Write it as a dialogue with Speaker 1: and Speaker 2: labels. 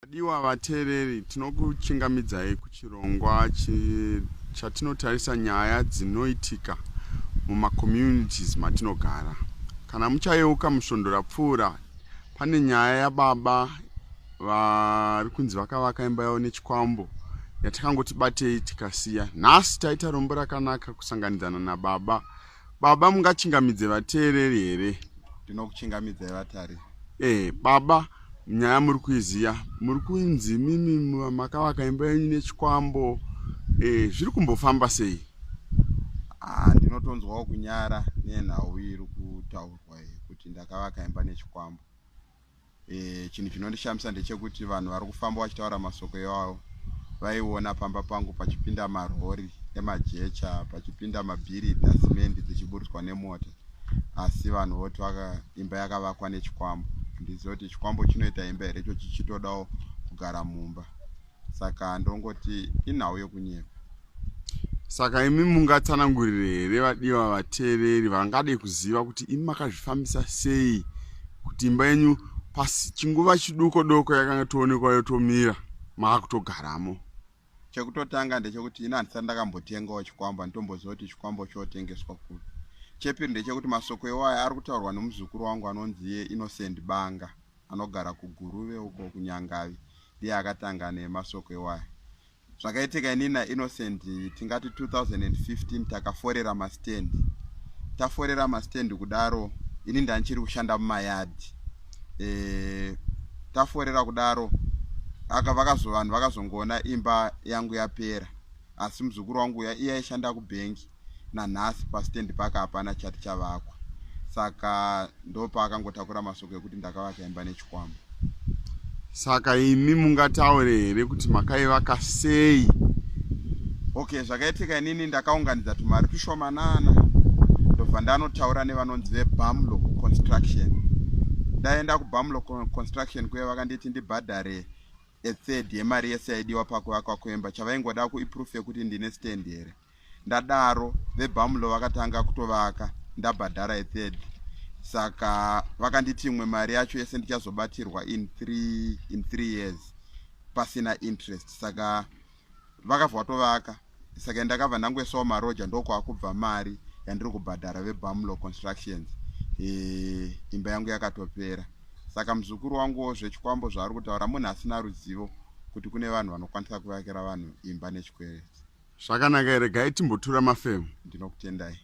Speaker 1: Vadiwa vateereri, tinokuchingamidzai kuchirongwa chatinotarisa nyaya dzinoitika mumacommunities matinogara. Kana muchayeuka musvondo rapfuura, pane nyaya yababa vari kunzi vakavaka imba yavo nechikwambo yatakangoti batei tikasiya. Nhasi taita rombo rakanaka kusanganidzana nababa Baba mungachingamidze vateereri here? Ndinokuchingamidzai
Speaker 2: vatari. Eh, baba
Speaker 1: nyaya muri kuiziya muri kunzi mimi makavaka imba yenyu nechikwambo eh, zviri kumbofamba sei? Ah, ndinotonzwawo
Speaker 2: kunyara nenhau iri kutaurwa iyi kuti ndakavaka imba nechikwambo. e, chinhu chinondishamisa ndechekuti vanhu vari kufamba vachitaura masoko iwawo vaiona pamba pangu pachipinda marori emajecha pachipinda mabhiri dasimendi dzichiburitswa nemota asi vanhu voti vaka imba yakavakwa nechikwambo ndiziva kuti chikwambo chinoita imba here icho chichitodawo kugara mumba saka ndongoti inhau yokunyepa
Speaker 1: saka imi mungatsanangurire here vadiwa vateereri vangade kuziva kuti imi makazvifambisa sei kuti imba yenyu pasi chinguva chiduko doko yakanga toonekwa yotomira maakutogaramo
Speaker 2: chekutotanga ndechekuti ini handisati ndakambotengawo chikwambo handitomboziva kuti chikwambo chotengeswa kupi chepiri ndechekuti masoko iwayo ari kutaurwa nomuzukuru wangu anonzi ye innocent banga anogara kuGuruve uko kuNyangavi ndiye akatanga nemasoko iwaya. Zvakaitika ini naInnocent tingati 2015 takaforera mastand. Taforera mastand kudaro ini ndandichiri kushanda mumayadhi. E, taforera kudaro aka vakazo vanhu vakazongoona imba yangu yapera asi muzukuru wangu uya iye aishanda kubhengi nanhasi pastand park hapana chati chavakwa saka ndopaakangotakura masoko ekuti ndakavaka imba nechikwambo
Speaker 1: saka imi mungataure here kuti makaivaka sei okay zvakaitika
Speaker 2: inini ndakaunganidza tumari tushomanana ndobva ndanotaura nevanonzi vebamlo construction ndaenda kubamlo construction kuye vakanditi ndibhadhare ethird yemari yese yaidiwa pakuvakwa kwemba chavaingoda kuiproof yekuti ndine stand here ndadaro vebamlo vakatanga kutovaka ndabhadhara ethird saka vakanditi imwe mari yacho yese ndichazobatirwa in three, in three years pasina interest saka vakabva vatovaka saka ndakabva ndangoisawo maroja ndokwakubva mari yandiri kubhadhara vebamlo constructions e, imba yangu yakatopera saka muzukuru wanguwo zvechikwambo zvaari kutaura munhu asina ruzivo kuti kune vanhu vanokwanisa kuvakira vanhu imba
Speaker 1: nechikwereti
Speaker 2: zvakanaka here
Speaker 1: gai
Speaker 2: timbotura
Speaker 1: mafemo ndinokutendai